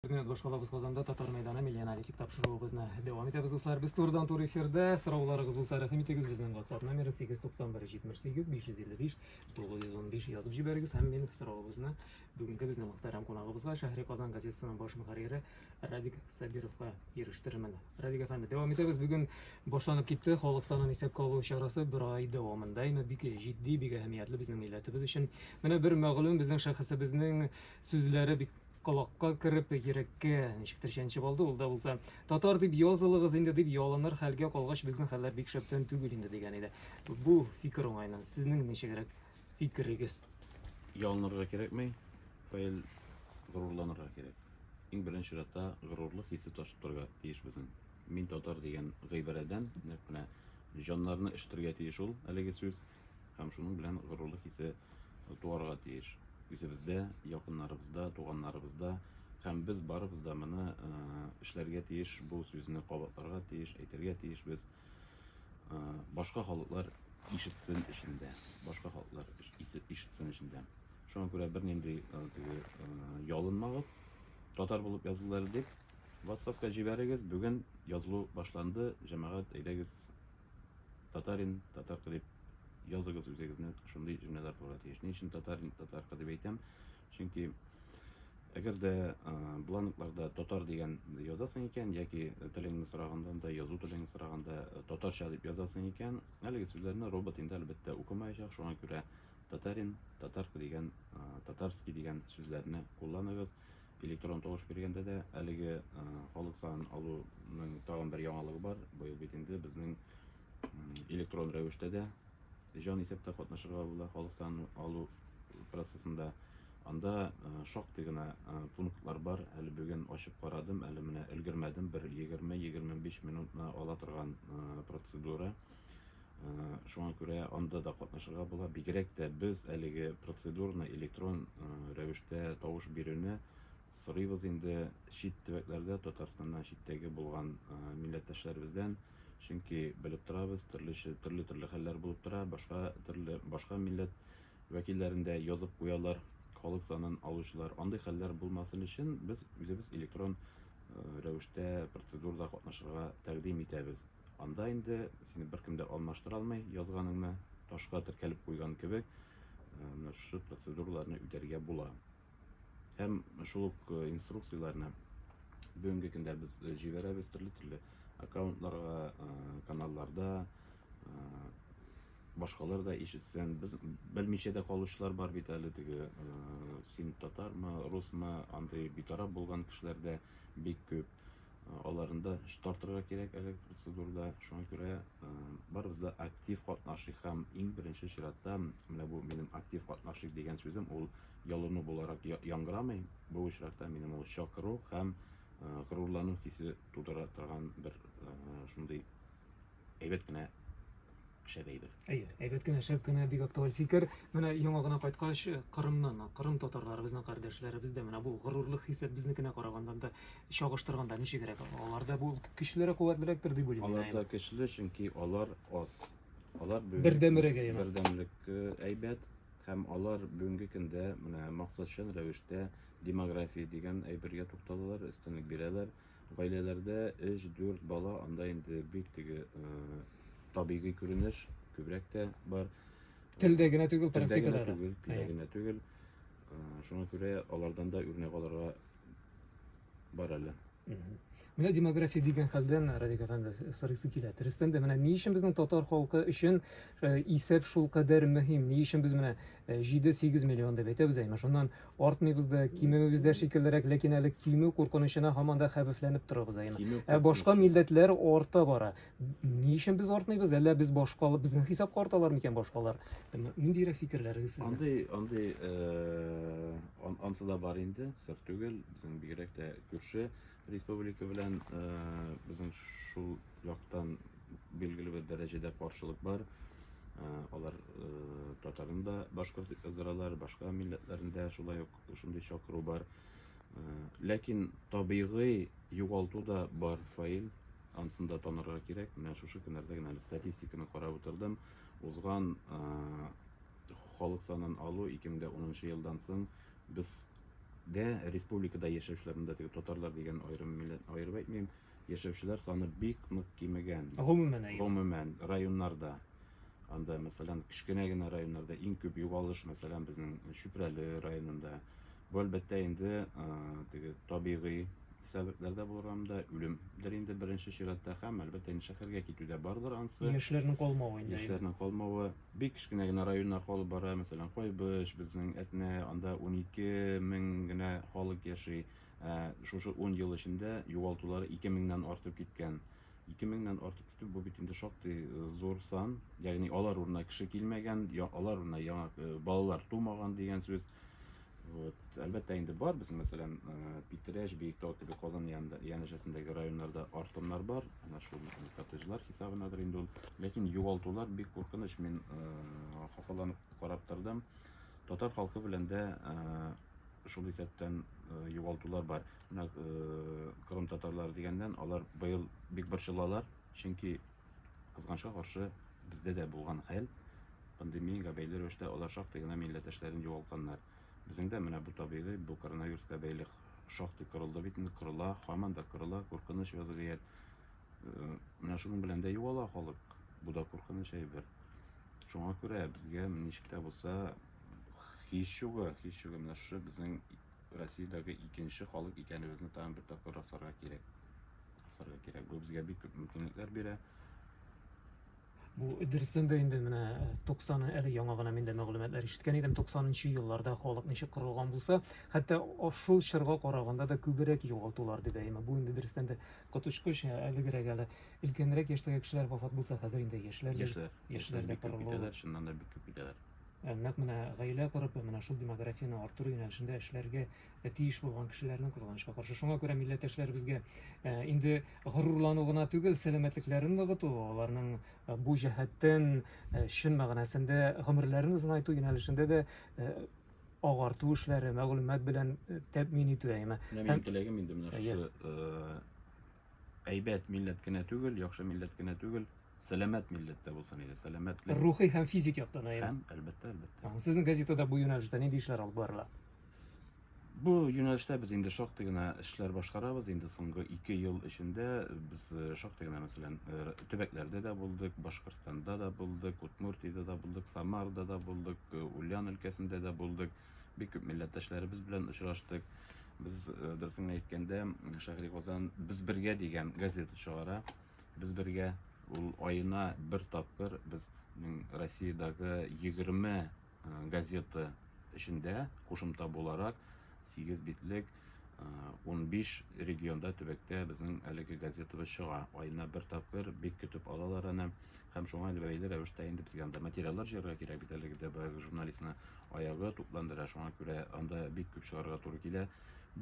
Хөрмәт башкалабыз Казанда Татар мәйданы милли аналитик тапшыруыбызны дәвам итәбез, дуслар. Без турыдан туры эфирдә. Сорауларыгыз булса, рәхим итегез, безнең WhatsApp номеры 891-78-555-915 язып җибәрегез һәм мин сорауыбызны бүгенге безнең мөхтәрәм кунагыбызга, Шәһри Казан газетасының баш мөхәррире Радик Сабировка ирештермен. Радик әфәнде, дәвам итәбез. Бүген башланып китте халык санын исәпкә алу чарасы бер ай дәвамында име бик җитди, бик әһәмиятле безнең милләтебез өчен. Менә бер мәгълүм безнең шәхесебезнең сүзләре бик Колакка кереп, йөрәккә ничектер чәнчеп алды, ул да булса, татар дип язылыгыз инде, дип ялыныр хәлгә калгач, безнең хәлләр бик шәптән түгел инде, дигән иде. Бу фикер уңайны, сезнең ничегрәк фикерегез? Ялынырга кирәкми, Фаил, горурланырга кирәк. Иң беренче чиратта горурлык хисе ташып торырга тиеш безнең. Мин татар дигән гыйбарәдән, нәкъ менә җаннарны өшетергә тиеш ул әлеге сүз. һәм шуның белән горурлык хисе туарга тиеш. Үзебездә, якыннарыбызда, туганнарыбызда һәм без барыбыз да моны эшләргә тиеш, бу сүзне кабатларга тиеш, әйтергә тиеш без. Башка халыклар ишетсен өчен дә, башка халыклар ишетсен өчен дә. Шуңа күрә бернинди теге ялынмагыз, татар булып язылыр дип, WhatsApp-ка җибәрегез. Бүген язылу башланды, җәмәгать, әйдәгез, Татарин, татарка дип языгыз үзегезне шундый җөмләләр булырга тиеш. Ни өчен татарин, татарка дип әйтәм? Чөнки әгәр дә бланкларда татар дигән язасың икән, яки телеңне сораганда да, язу телеңне сораганда татарча дип язасың икән, әлеге сүзләрне робот инде әлбәттә укымаячак, шуңа күрә татарин, татарка дигән, татарский дигән сүзләрне кулланыгыз. Электрон тавыш биргәндә дә әлеге халык санын алуның тагын бер яңалыгы бар. Быел бит инде безнең электрон рәвештә дә җан исәптә катнашырга була халык санын алу процессында. Анда шактый гына пунктлар бар. Әле бүген ачып карадым, әле менә өлгермәдем. Бер 20-25 минутны ала торган процедура. Шуңа күрә анда да катнашырга була. Бигрәк тә без әлеге процедурны электрон рәвештә тавыш бирүне сорыйбыз инде чит төбәкләрдә Татарстаннан читтәге булган милләттәшләребездән. Чөнки белеп торабыз, төрлечә төрле төрле хәлләр булып тора. Башка төрле башка милләт вәкилләрендә язып куялар халык санын алучылар. Андый хәлләр булмасын өчен без үзебез электрон рәвештә процедурада катнашырга тәкъдим итәбез. Анда инде сине беркем дә алмаштыра алмый, язганыңны ташка теркәлеп куйган кебек, менә шушы процедураларны үтәргә була. Һәм шул ук инструкцияләрне бүгенге көндә без җибәрәбез төрле-төрле аккаунтларга, каналларда, башкалар да ишетсен. Без белмичә дә калучылар бар бит әле теге син татармы, русмы, андый битараф булган кешеләр дә бик күп. аларында эш тартырга кирәк әлеге процедурада. Шуңа күрә барыбыз да актив катнашыйк һәм иң беренче чиратта менә бу минем актив катнашыйк дигән сүзем ул ялыну буларак яңгырамый. Бу очракта минем ул чакыру һәм горурлану хисе тудыра торган бер шундый әйбәт кенә шәп әйбер. Әйе, әйбәт кенә, шәп кенә, бик актуаль фикер. Менә яңа гына кайткач, Кырымнан, Кырым татарлары безнең кардәшләребез дә менә бу горурлык хисе безнекенә караганда да чагыштырганда ничегрәк? Аларда бу көчлерәк, куәтлерәктер дип уйлыйм. Алар да көчле, чөнки алар аз. Алар бүген бердәмрәк әйбәт. Бердәмлек э, әйбәт һәм алар бүгенге көндә менә максатчан рәвештә демография дигән әйбергә тукталалар, өстенлек бирәләр. Гаиләләрдә өч-дүрт бала, анда инде бик теге табигый күренеш, күбрәк тә бар. Телдә генә түгел, практикада да. Түгел, телдә генә түгел. Шуңа күрә алардан да үрнәк алырга бар әле. Менә демография дигән хәлдән Радик әфәнде сорыйсы килә. Дөрестән дә менә ни өчен безнең татар халкы өчен исәп шул кадәр мөһим? Ни өчен без менә 7-8 миллион дип әйтәбез, әйме шуннан Артмыйбыз да, кимемибез дә шикеллерәк, ләкин әле кимү куркынычына һаман да хәвефләнеп торабыз әйме. Кимү Ә башка куркынычы. милләтләр арта бара. Ни өчен без артмыйбыз? Әллә без башка безнең хисапка арталар микән башкалар? М- Ниндирәк фикерләрегез сезнең? Андый, андый, э, ан- ансы да бар инде, сер түгел, безнең бигрәк тә күрше, Республика белән безнең шул яктан билгеле бер дәрәҗәдә каршылык бар. Алар татарын да башкорт дип яздыралар, башка милләтләрендә шулай ук шундый чакыру бар. Ләкин табигый югалту да бар фаил, ансын да танырга кирәк. Менә шушы көннәрдә генә әле статистиканы карап утырдым. Узган халык санын алу 2010 елдан соң без Дә, республикада яшәүчеләрнең дә, теге татарлар дигән аерым милләтне аерып әйтмим, яшәүчеләр саны бик нык кимегән. Гомумән әйе. Гомумән, районнарда. Анда, мәсәлән, кечкенә генә районнарда иң күп югалыш, мәсәлән, безнең Чүпрәле районында. Бу, әлбәттә, инде теге табигый сәбәпләр дә булырга мөмкин, үлемдер инде беренче чиратта һәм, әлбәттә, инде шәһәргә китү дә бардыр ансы. Яшьләрнең калмавы инде. Яшьләрнең калмавы. Бик кечкенә генә районнар халык бара, мәсәлән, Кайбыч, безнең Әтнә, анда унике мең генә халык яши. Ә шушы ун ел эчендә югалтулары ике меңнән артып киткән. Ике меңнән артып китү, бу бит инде шактый зур сан. Ягъни алар урынына кеше килмәгән, алар урынына яңа балалар тумаган дигән сүз. Вот. Әлбәттә инде бар без, мәсәлән, э, Питрәш, Биектау кебек Казан янәшәсендәге районнарда артоннар бар. Менә шул коттеджлар хисабынадыр инде ул. Ләкин югалтулар бик куркыныч. Мин э, хафаланып карап тордым. Татар халкы белән дә э, шул исәптән югалтулар бар. Менә кырым татарлары дигәннән алар быел бик борчылалар, чөнки Кызганычка каршы, бездә дә булган хәл, пандемиягә бәйле рәвештә алар шактый гына милләттәшләрен югалтканнар. Безнең дә менә бу табигый, бу коронавируска бәйле шактый кырылды бит инде, кырыла, һаман да кырыла, куркыныч вәзгыять. Э, менә шуның белән дә югала халык. Бу да куркыныч әйбер. Шуңа күрә безгә ничек тә булса һич югы, һич югы менә шушы безнең Россиядәге икенче халык икәнебезне тагын бер тапкыр расларга кирәк. кысырга кирәк. Бу безгә бик күп мөмкинлекләр бирә. Бу дөрестән дә инде менә 90 э, әле яңа гына мин дә мәгълүматлар ишеткән идем. 90нчы елларда халык ничек кырылган булса, хәтта шул чорга караганда да күбрәк югалтулар дип әйме. Бу инде дөрестән дә коточкыч, ә әлегерәк әле өлкәнрәк яшьтәге кешеләр вафат булса, хәзер инде яшьләр яшьләр яшьләр дә кырылалар. Шуннан да бик күп китәләр. Ә нәкъ менә гаилә корып, менә шул демографияне арттыру юнәлешендә эшләргә ә тиеш булган кешеләрнең, кызганычка каршы. Шуңа күрә милләттәшләребезгә ә, инде горурлану гына түгел, сәламәтлекләрен ныгыту, аларның ә, бу җәһәттән ә, чын мәгънәсендә гомерләрен озынайту юнәлешендә дә ә, агарту эшләре, мәгълүмат белән э, тәэмин итү әйме. Менә минем теләгем инде менә шушы э, әйбәт милләт кенә түгел, яхшы милләт кенә түгел, сәламәт милләттә булсын иде, сәламәтлек. Рухи һәм физик яктан әйме. Һәм, әлбәттә, әлбәттә. Сезнең газетада бу юнәлештә нинди эшләр алып барыла? Бу юнәлештә без инде шактый гына эшләр башкарабыз. Инде соңгы ике ел эчендә без э, шактый гына, мәсәлән, э, төбәкләрдә дә булдык, Башкортстанда да булдык, Удмуртиядә да булдык, Самарда да булдык, э, Ульян өлкәсендә дә булдык. Бик күп милләттәшләребез белән очраштык. Без, дөресен әйткәндә, Шәһри Казан без бергә дигән газета чыгара. Без бергә ул аена бер тапкыр без Россиядәге 20 газета эчендә кушымта буларак сигез битлек унбиш регионда төбәктә безнең әлеге газетабыз чыга айына бер тапкыр бик көтеп алалар аны һәм шуңа бәйле рәвештә инде безгә анда материаллар җыярга кирәк бит әлеге дә баягы журналистны аягы тупландыра шуңа күрә анда бик күп чыгарга туры килә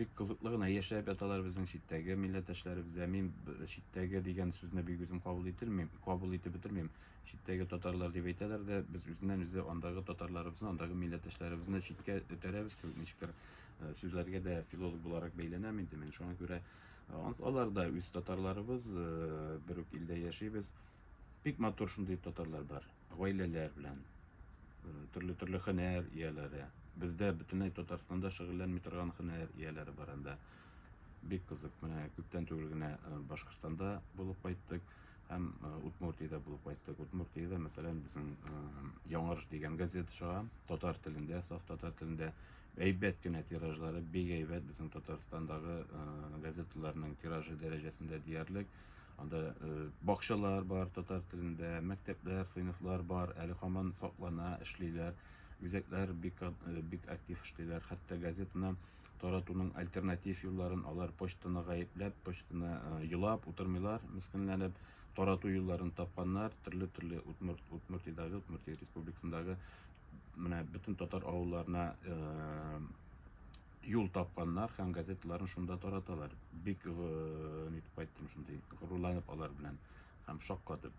бик кызыклы гына яшәп яталар безнең читтәге милләттәшләребез дә мин читтәге дигән сүзне бик үзем кабул ителмим кабул итеп бетермим читтәге татарлар дип әйтәләр дә, без үзеннән-үзе андагы татарларыбызны, андагы милләттәшләребезне читкә өтәрәбез кебек ничектер э, сүзләргә дә филолог буларак бәйләнәм инде мин. Шуңа күрә э, алар да үз татарларыбыз, э, бер үк илдә яшибез. Бик матур шундый татарлар бар, гаиләләр белән, төрле-төрле хөнәр ияләре. Бездә бөтенләй Татарстанда шөгыльләнми торган хөнәр ияләре бар анда. Бик кызык. Менә күптән түгел генә Башкортстанда булып кайттык. Һәм Удмуртиядә булып кайттык. Удмуртиядә, мәсәлән, безнең Яңарыш дигән газета чыга, татар телендә, саф татар телендә. Әйбәт кенә тиражлары, бик әйбәт безнең Татарстандагы газеталарның тиражы дәрәҗәсендә диярлек. Анда бакчалар бар татар телендә, мәктәпләр, сыйныфлар бар, әле һаман саклана, эшлиләр. Үзәкләр бик бик актив эшлиләр. Хәтта газетаны таратуның альтернатив юлларын алар почтаны гаепләп, почтаны э, елап утырмыйлар, мескенләнеп, тарату юлларын тапканнар, төрле-төрле Удмурт, Удмуртиядәге, Удмуртия республикасындагы менә бөтен татар авылларына э, юл тапканнар һәм газеталарын шунда тараталар. Бик э, нитеп кайттым шундый, горурланып алар белән һәм шаккатып.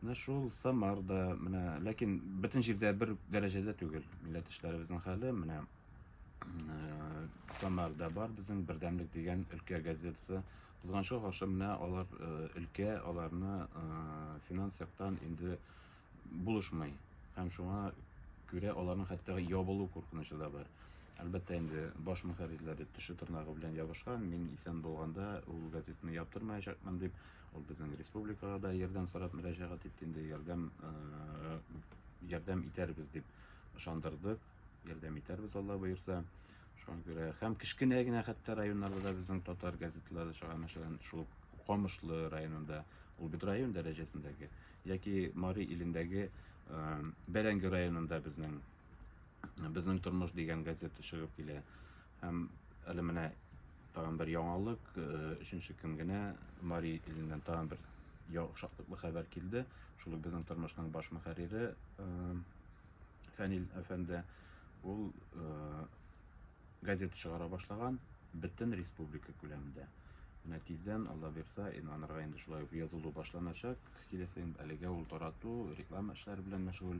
Менә шул Самар да, менә, ләкин бөтен җирдә бер дәрәҗәдә түгел. Милләттәшләребезнең хәле менә э, Самарда бар безнең Бердәмлек дигән өлкә газетасы. Кызганычка каршы менә алар э, өлкә аларны э, финанс яктан инде булышмый. Һәм шуңа күрә аларның хәтта ябылу куркынычы да бар. Әлбәттә инде баш мөхәррирләре теше тырнагы белән ябышкан, мин исән булганда ул газетаны яптырмаячакмын дип Ул безнең республикага да ярдәм сорап мөрәҗәгать итте инде, ярдәм ярдәм итәрбез дип ышандырдык, ярдәм итәрбез Алла боерса. Шуңа күрә һәм кечкенә генә хәтта районнарда да безнең татар газеталары чыга, мәсәлән, шул Камышлы районында, ул бит район дәрәҗәсендәге, яки Мари илендәге Бәрәңге районында безнең безнең тормыш дигән газета чыгып килә. Һәм әле менә тагын бер яңалык, э, өченче көн генә Мари иленнән тагын бер шатлыклы хәбәр килде. Шул ук безнең тормышның баш мөхәррире э, Фәнил әфәнде, ул э, газета чыгара башлаган бөтен республика күләмендә. Менә тиздән, Алла бирса, инанырга инде шулай ук язылу башланачак. Киләсе әлегә ул тарату, реклама эшләре белән мәшгуль.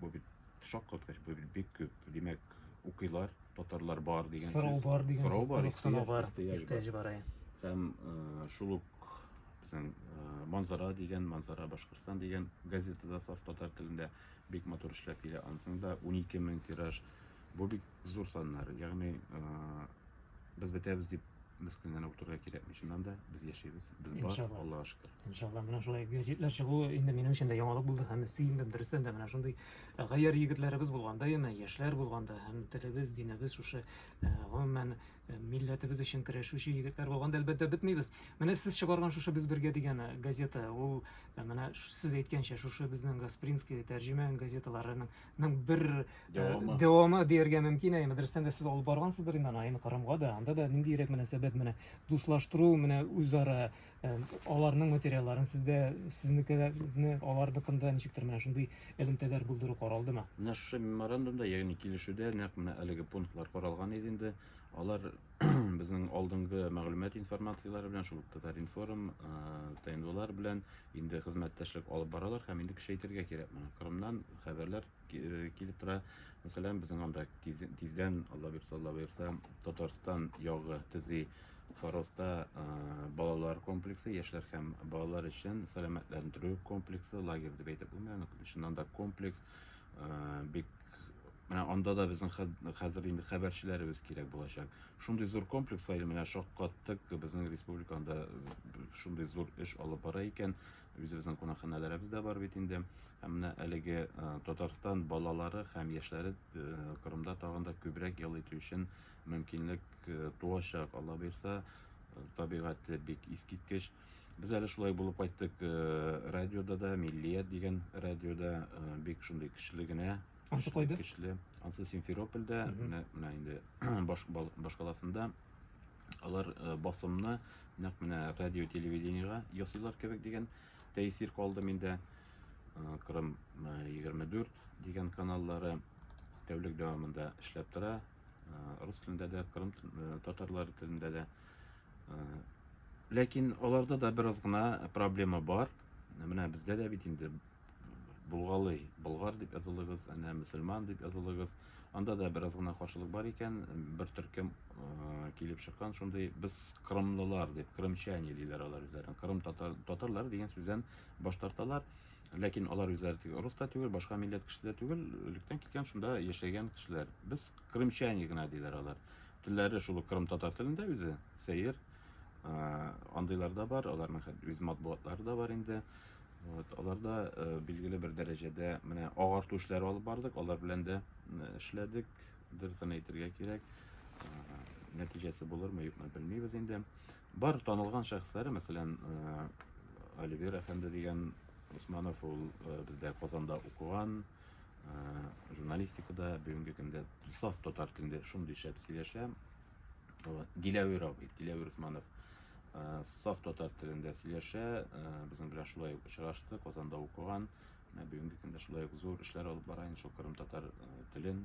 Бу бит шаккаткыч, бу бит бик күп. Димәк, укыйлар, татарлар бар дигән Сорау сүз. бар дигән Сорау сүз, бар, кызыксыну бар, ихтыяҗ бар. ихтыяҗ бар. әй. Һәм э, шул ук безнең э, Манзара дигән, Манзара Башкортстан дигән газета да саф татар телендә бик матур эшләп килә. Анысының да 12 мең тираж. Бу бит зур саннар. Ягъни без бетәбез дип мескенләнеп утырырга кирәкми. Чыннан да без яшибез, без бар, Иншалла. Аллага шөкер. Иншалла, менә шулай гәҗитләр чыгу инде минем өчен дә яңалык булды һәм сөендем. Дөрестән дә менә шундый э, гаярь егетләребез булганда, яме яшьләр булганда һәм телебез, динебез шушы э, гомумән э, милләтебез өчен көрәшүче егетләр булганда, әлбәттә, бетмибез. Менә сез чыгарган шушы без бергә дигән газета, ул менә сез әйткәнчә шушы безнең Гаспринский тәрҗемә газеталарының ның бер э, дәвамы дәвамы дияргә мөмкин әй мәдрәсәдән дә сез алып баргансыздыр инде аны әйме кырымга да анда да ниндирәк мөнәсәбәт менә дуслаштыру менә үзара э, аларның материалларын сездә сезнекеләрне аларныкында ничектер менә шундый элемтәләр булдыру каралдымы менә шушы меморандумда ягъни килешүдә нәкъ менә әлеге пунктлар каралган иде инде алар безнең алдынгы мәгълүмат информацияләре белән шул татар-информ э, тнвлар белән Инде хезмәттәшлек алып баралар һәм инде көчәйтергә кирәк моны. Кырымнан хәбәрләр э, килеп тора. Мәсәлән, безнең анда тиз, тиздән, Алла бирса, Алла бирса, Татарстан ягы төзи Фароста э, балалар комплексы, яшьләр һәм балалар өчен сәламәтләндерү комплексы, лагерь дип әйтеп булмый, чыннан да комплекс э, бик Менә анда да безнең хәзер инде хәбәрчеләребез кирәк булачак. Шундый зур комплекс бар, менә шаккаттык, безнең республикада э, шундый зур эш алып бара икән. Үзебезнең кунакханәләребез дә бар бит инде. Һәм менә әлеге э, Татарстан балалары һәм яшьләре э, Кырымда тагын да күбрәк ял итү өчен мөмкинлек туачак. Алла бирса, табигате бик искиткеч. Без әле шулай булып кайттык э, радиода да, Миллият дигән радиода э, бик шундый көчле генә. Ансы кайда? Көчле. Ансы Симферопольдә, менә менә инде баш, башкаласында алар э, басымны нәкъ менә радио телевидениега ясыйлар кебек дигән тәэсир калды миндә. Кырым 24 дигән каналлары тәүлек дәвамында эшләп тора. Рус телендә дә, кырым татарлары телендә дә Ләкин аларда да бераз гына проблема бар. Менә бездә дә бит инде булгалый, болгар дип язылыгыз, әнә мөселман дип язылыгыз. Анда да бераз гына каршылык бар икән, бер төркем килеп чыккан шундый без кырымлылар дип, кырымчане диләр алар үзләрен. Кырым татар, татарлар дигән сүздән баш тарталар. Ләкин алар үзләре тик рус та түгел, башка милләт кеше дә түгел, электән килгән шунда яшәгән кешеләр. Без кырымчане гына диләр алар. Телләре шул ук кырымтатар телендә үзе, сәер. Андыйлар да бар, аларның хәт үз матбугатлары да бар инде. Вот, аларда э, билгеле бер дәрәҗәдә менә агарту эшләре алып бардык, алар белән дә эшләдек. Дөресен әйтергә кирәк. Нәтиҗәсе булырмы, юкмы белмибез инде. Бар танылган шәхесләре, мәсәлән, Оливер әфәнде дигән Усманов ул э, бездә Казанда укыган, журналистикада бүгенге көндә саф татар телендә шундый шәп сөйләшә диләвир абый диләвир усманов саф татар телендә сөйләшә безнең белән шулай ук очрашты казанда укыган бүгенге көндә шулай ук зур эшләр алып бара инде шул кырым татар телен